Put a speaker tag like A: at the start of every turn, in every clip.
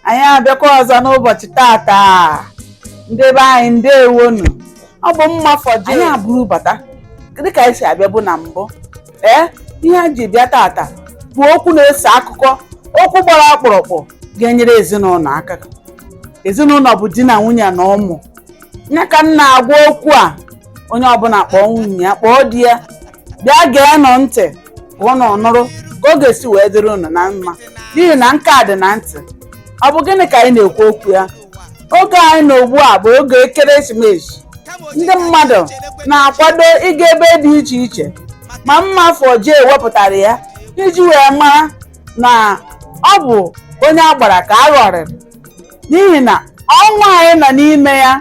A: anyị abịakwa ọzọ n'ụbọchị tata ndị be anyị ndewonu ọ bụ mma fọji anyị abụrụ bata dịka anyị si abịabu na mbụ ee ihe anyị ji bịa tata bụ okwu na-ese akụkọ okwu gbara ọkpụrụkpụ ga-enyere ezinụlọ aka ezinụlọ bụ di na nwunye na ụmụ ya ka m na-agwa okwu a onye ọbụla kpọọ nwunye ya kpọọ di ya bịa geenụ ntị ka unu nụrụ ka ọ ga-esi wee dịrị unu na mma n'ihi na nke a dị na ntị ọ bụ gịnị ka anyị na-ekwu okwu ya oge anyị nọ ugbu a bụ oge ekeresimesi ndị mmadụ na-akwado ịga ebe dị iche iche ma mma fọji wepụtara ya iji wee mara na ọ bụ onye a gbara ka a ghọrịrị n'ihi na ọnwa anyị nọ n'ime ya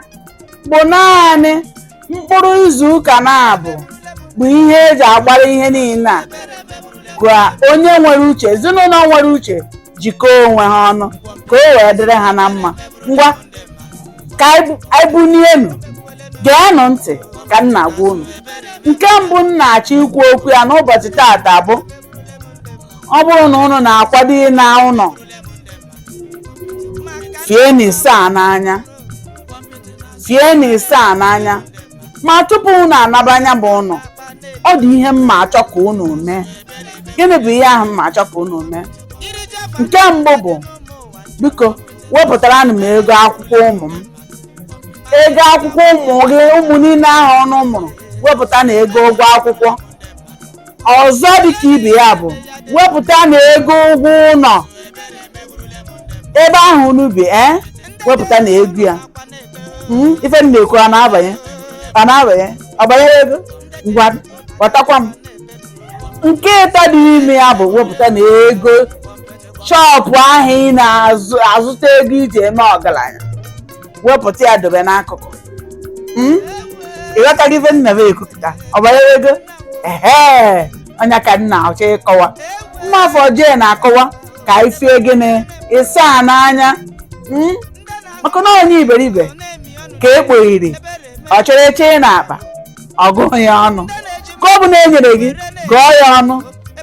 A: bụ naanị mkpụrụ izu ụka naabọ bụ ihe e ji agbara ihe niile a ka onye nwere uche ezinụlọ nwere uche jikọọ onwe ha ọnụ ka o wee dịrị ha na mma ngwa ka anyị bunienu geenụ ntị ka m na-agwa unu nke mbụ m na-achọ ikwu okwu ya n'ụbọchị tata bụ ọ bụrụ na unu na-akwado ịna ụlọ fienụ ịsaa n'anya fienụ ịsaa n'anya ma tupu unu anaba nya bụ ụnọ ọ dị ihe m na-achọ ka unu mee gịnị bụ ihe ahụ m na-achọ ka unu mee nke mbụ bụ biko wepụtaranụ m ego akwụkwọ ụmụ m ego akwụkwọ ụmụ gị ụmụ niile ahụ unu mụrụ wepụtanụ ego ụgwọ akwụkwọ ọzọ dịka ibe ya bụ wepụtanụ ego ụgwọ ụlọ ebe ahụ unu bi ee wepụtanụ ego ya Mm, ife m na-ekwu ọ na-abanye ọ na-abanye ọ banyego ngwa ghọtakwa m nke ịtọ dị n'ime ya bụ wepụtanụ ego shọpụ ahụ ị na-azụta ego i ji eme ọgaranya wepụta ya dobe n'akụkụ Mm? ị ghọtara ife m na-ekwupụta ọ banyego ehe ọ nya ka m na-achọ ịkọwa mma fọji na-akọwa ka anyị fie gịnị ịsaa n'anya Mm? maka na onye iberibe ka e kpoghiri ọ chịrị chịye n'akpa ọ gụọ ya ọnụ nke ọbụna e nyere gị gụọ ya ọnụ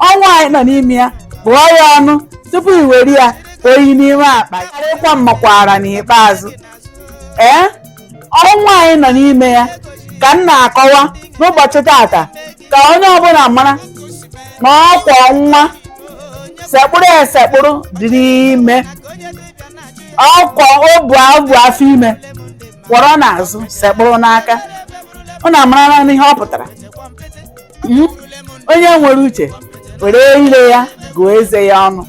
A: ọnwa anyị nọ n'ime ya gụọ ya ọnụ tupu i were ya oyi n'ime akpa ya karịa ịkwa mmakwara n'ikpeazụ ee ọnwa anyị nọ n'ime ya ka m na-akọwa n'ụbọchị tata ka onye ọbụla mara na ọkwọ nwa sekpụrụ esekpụrụ dịrị ime ọkwa o bu afọ ime kwọrọ n'azụ sekpụrụ n'aka unu amaralanụ ihe ọ pụtara hmm? onye nwere uche were ire ya gụọ eze ya ọnụ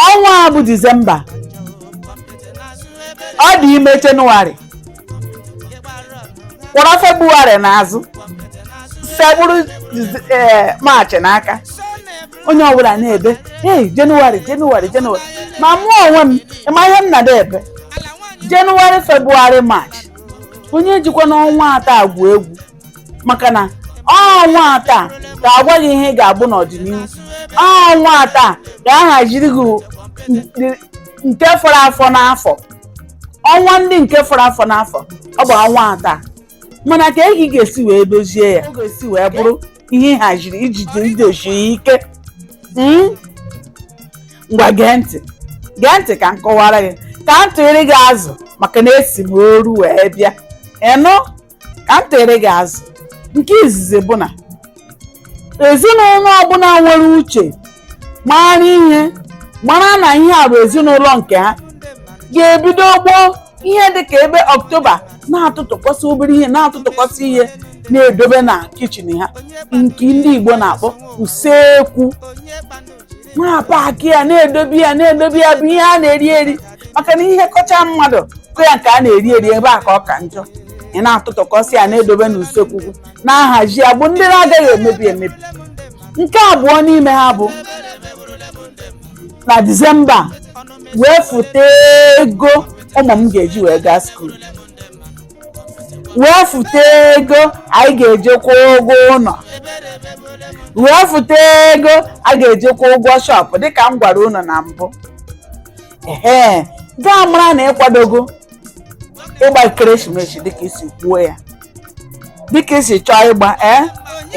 A: ọnwa a bụ disemba ọ dị ime jenụwarị kwọrọ febụwarị n'azụ sekpụrụ eh, maachị n'aka onye ọbụla na-ebe ee jenụwarị jenụwarị jenụwarị ma mụ onwe m ị ma ihe m na-ada ebe jenụwarị febụwarị maachị onye ejikwana ọnwa atọ a egwu egwu maka na ọnwa atọ a ga-agwa gị ihe ị ga-abụ n'ọdịnihu ọnwa atọ a ga-ahaziri gị ndị- nke fọrọ afọ n'afọ ọnwa ndị nke fọrọ afọ n'afọ ọ bụ ọnwa atọ a mana ka ị ga-esi wee dozie ya ọ ga-esi wee bụrụ ihe ị haziri jidesie ya ike Mm? ngwa gee ntị gee ntị ka m kọwara gị ka m tụnyere gị azụ maka na esi m oru wee bịa ị nụ ka m tere gị azụ nke izizi bụ na ezinụlọ ọbụla nwere uche mara ihe mara na ihe a bụ ezinụlọ nke ha ga-ebido gboo ihe dị ka ebe ọktoba na-atụtụkọsị obere ihe na-atụtụkọsị ihe na-edobe na kichin ha nke ndị Igbo na-akpọ usekwu na-apaki ya na-edobe ya na-edobe ya bụ ihe a na-eri eri maka na ihe kọchaa mmadụ kọọ ya nke a na-eri eri ebe a ka ọ ka njọ ị na-atụtụkọsị ya na-edobe n'usekwu gị na-ahazi ya bụ ndị na-agaghị emebi emebi nke abụọ n'ime ha bụ na disemba wefụta ego ụmụ m ga-eji wee gaa skuul wefụta ego anyị ga-eji kwụọ ụgwọ ụlọ wefụta ego a ga-eji kwụọ ụgwọ shọpụ dịka m gwara unu na mbụ ee ga-amara na ị kwadogo ịgba ekeresimesi dịka ị si kwuo ya dịka ị si chọọ ịgba ee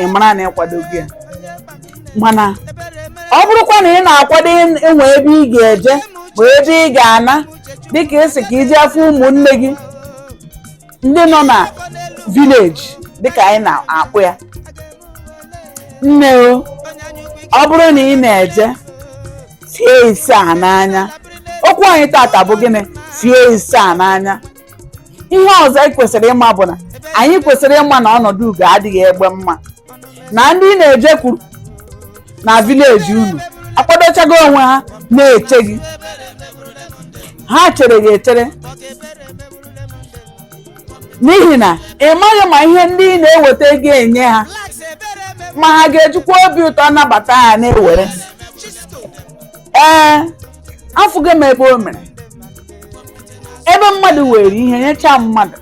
A: ị mara na ị kwadogo ya mana ọ bụrụkwa na ị na-akwado ịnwe ebe ị ga-eje ma ebe ị ga-ana dịka ị sị ka ị jee fụ ụmụnne gị ndị nọ na vileji dịka anyị na-akpọ ya nne o ọ bụrụ na ị na-eje fie isaa n'anya okwu anyị tata bụ gịnị fie isaa n'anya ihe ọzọ anyị kwesịrị ịma bụ na anyị kwesịrị ịma na ọnọdụ ugo adịghị egbe mma na ndị ị na-ejekwuru na vileji unu akwadochago onwe ha na-eche gị ha chere gị echere n'ihi na ị maghị ma ihe ndị ị na-ewetaga enye ha ma ha ga-ejikwa obi ụtọ nabata ha na-ewere ee afụgo m ebe o mere ebe mmadụ were ihe nyecha mmadụ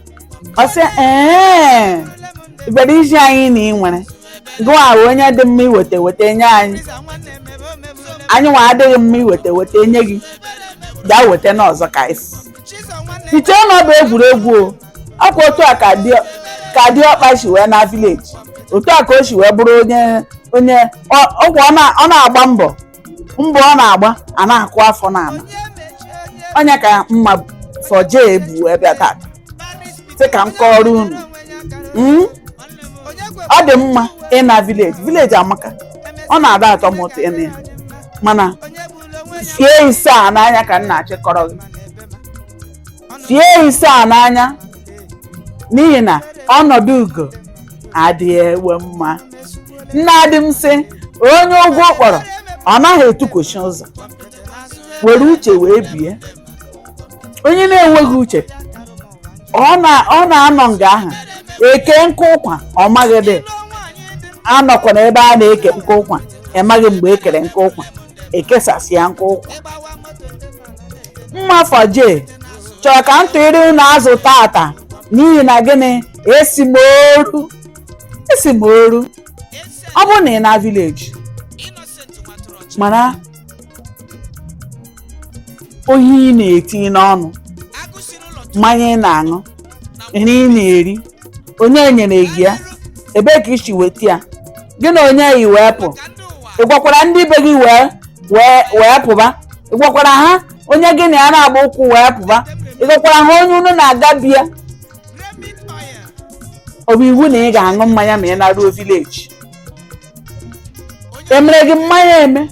A: ọ sị ee ị bịara izi anyị na ị nwere gụwa bụ onye dị mma iweta weta nye anyị anyị nwa adịghị mma iweta weta nye gị gaa weta n'ọzọ ka i si chee na ọ bụ egwuregwu o ọkwa otu a ka dị ka diọkpa si wee na vileji otu a ka o si wee bụrụ onye onye ọ- ọkwa ọ na- ọ na-agba mbọ mbọ ọ na-agba a na-akụ afọ n'ala onye ka mma fọje bu bịa tata sị ka m kọọrọ unu Mm? ọ dị mma ịna vileji vileji amaka ọ na-ada atọ m ụtọ ịna ya mana fie isaa n'anya ka m na-achọ ịkọrọ gị fie isaa n'anya n'ihi na ọnọdụ ugo adịghị egbe mma nnadi m sị onye ugwu kpọrọ ọ naghị etukwuchi ụzọ were uche wee bie onye na-enweghị uche ọ na- ọ na-anọ nga ahụ eke nkụ ụkwa ọ maghị dị anọkwa n'ebe a na-eke nkụ ụkwa ị maghị mgbe e kere nkụ ụkwa ekesasịa nkụ ụkwa mmafọ je chọrọ ka m tụịrị unu azụ tata n'ihi na gịnị esi m oru esi m oru ọ bụrụ na ị na vileji mara ihe ị na-eti n'ọnụ mmanya ị na-aṅụ nri ị na-eri onye nyere gị ya ebee ka i si weta ya gị na onye yi wee pụ ị gwakwara ndị be gị wee wee wee pụba ị gwakwara ha onye gị na ya na-agba ụkwụ wee pụba ị gwakwara ha onye unu na-aga be ya ọ bụ iwu na ị ga-aṅụ mmanya ma ị naruo vileji emere gị mmanya eme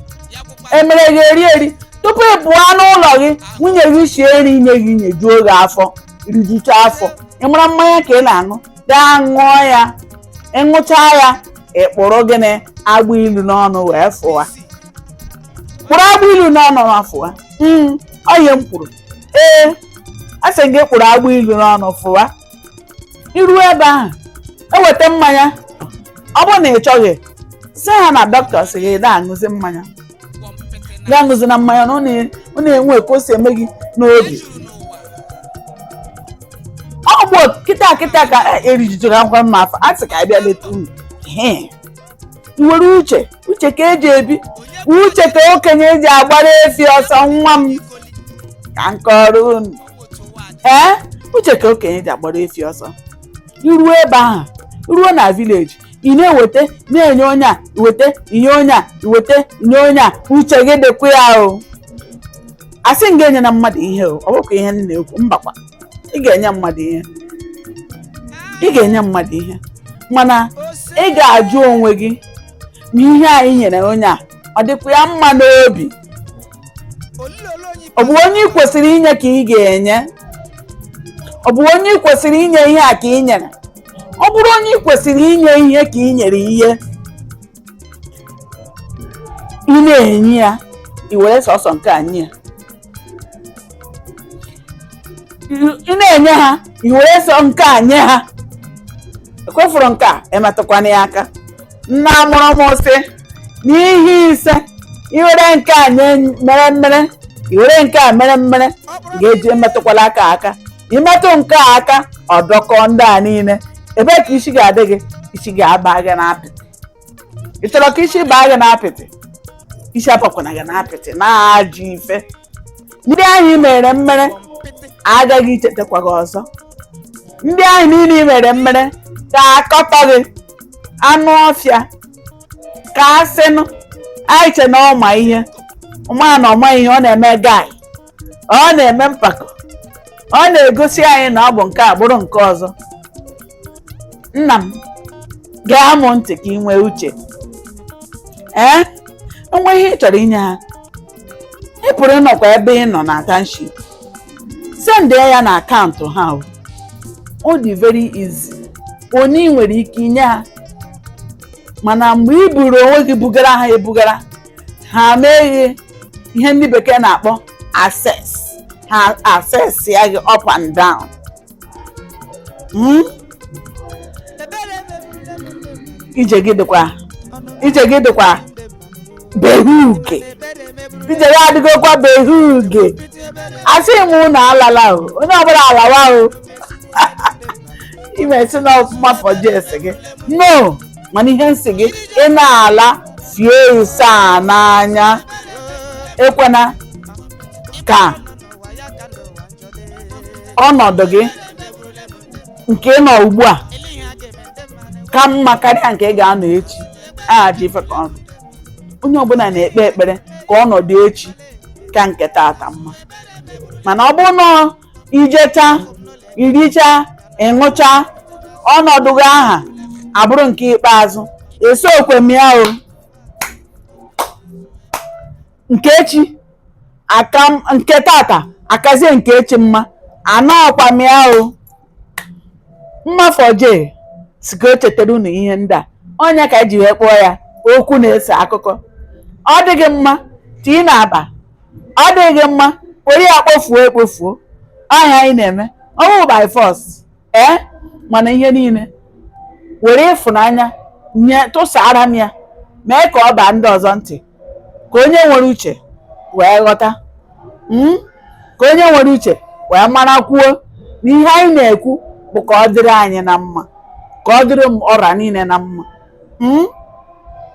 A: emere gị eri eri tupu ị pụọ n'ụlọ gị nwunye gị sie nri nye gị nyejuo gị afọ rijucha afọ ị mara mmanya ka ị na-aṅụ gaa ṅụọ ya ị ṅụcha ya ị kpụrụ gịnị agba ilu n'ọnụ wee fụwa kpụrụ agba ilu n'ọnụ ma fụwa Mm, ọ ihe m kwuru ee asị m gị kpụrụ agba ilu n'ọnụ fụwa i ruo ebe ahụ e weta mmanya ọ bụrụ na ị chọghị sị ha na dọkịta sị gị na-aṅụzi mmanya gị aṅụzina mmanya na ọ na- ọ na-enwe ka o si eme gị n'obi ọ bụ kịta kịta ka e- erijuru akwa mma afọ a sị ka a bịa leta unu Ehe. i were uche uche ka e ji ebi uche ka okenye ji agbara efi ọsọ nwa m ka m kọrọ unu ee uche ka okenye ji agbara efi ọsọ iruo ebe ahụ ruo na vileji ị na-eweta na-enye onye a weta inye onye a weta inye onye a uche gị dịkwa ya o asị m gị enyena mmadụ ihe o ọ bụkwa ihe m na-ekwu mbakwa ị ga-enye mmadụ ihe ị ga-enye mmadụ ihe mana ị ga-ajụ onwe gị ma ihe anyị nyere onye a ọ dịkwa ya mma n'obi ọ bụ onye ị kwesịrị inye ka ị ga-enye ọ bụ onye ị kwesịrị inye ihe a ka ị nyere ọ bụrụ onye ị kwesịrị inye ihe ka ị nyere ihe ị na-enye ya i were sọsọ nke a nye ya ị na-enye ha i were sọ nke a nye ha ekwefuru nke a emetụkwana ya aka nna mụrụ m sị n'ihe ise iwere nke a nye mere mmere iwere nke a mere mmere ị ga-eji emetụkwala aka aka imetụ nke a aka ọ dọkọọ ndị a niile ebee ka isi ga-adị gị isi ga-aba gị n'apịtị ị chọrọ ka isi baa gị n'apịtị isi abakwana gị n'apịtị na-ajụ ife ndị ahụ i mere mmere agaghị ichetakwa gị ọzọ ndị ahụ niile i mere mmere ga-akọtọ gị anụ ọfịa ka asịnụ anyị che na ọ ma ihe mana ọ ma ihe ọ na-eme guy ọ na-eme mpako ọ na-egosi anyị na ọ bụ nke a bụrụ nke ọzọ nna m ṅaa m ntị ka ị nwee uche ee o nwee ihe ị chọrọ inye ha ị pụrụ ịnọkwa ebe ị nọ na township send ya na akaụntụ ha o. ọ dị very easy one ị nwere ike inye ha mana mgbe ị buru onwe gị bugara ha ebugara ha mee gị ihe ndị bekee na-akpọ assess ha assessịa gị up and down Mm? ije gị dịkwa ije gị dịkwa be huge ije gị adịgokwa be huge asị m unu alala o onye ọbụla alawa o imesi na ọfụma fọji esi gị no mana ihe m sị gị ị na-ala fie ise a n'anya ekwena ka ọnọdụ gị nke ị nọ ugbu a ka mma karịa nke ị ga-anọ echi aha ji ife ka ọnụ onye ọbụla na-ekpe ekpere ka ọnọdụ echi ka nke taata mma mana ọ bụrụ na ijecha iricha ịṅụcha ọnọdụ gị ahụ abụrụ nke ikpeazụ esokwa m ya o nke echi nke tata akazie nke echi mma anọọkwa m ya o mmafoje sị ka o chetara unu ihe ndị a ọ nya ka e ji wee kpọọ ya okwu na-ese akụkọ ọ dị gị mma tii n'akpa ọ dịghị mma were ya kpofuo ekpofuo ọ nya anyị na-eme ọ bụ by force ee mana ihe niile were ịfụnanya nye tụsaara m ya mee ka ọ baa ndị ọzọ ntị ka onye nwere uche wee ghọta mm, ka onye nwere uche wee marakwuo na ihe anyị na-ekwu bụ ka ọ dịrị anyị na mma ka ọ dịrị m ọra niile na mma mm,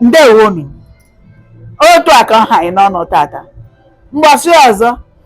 A: ndewonu otu a ka ọ ha anyị n'ọnụ tata mbọsị ọzọ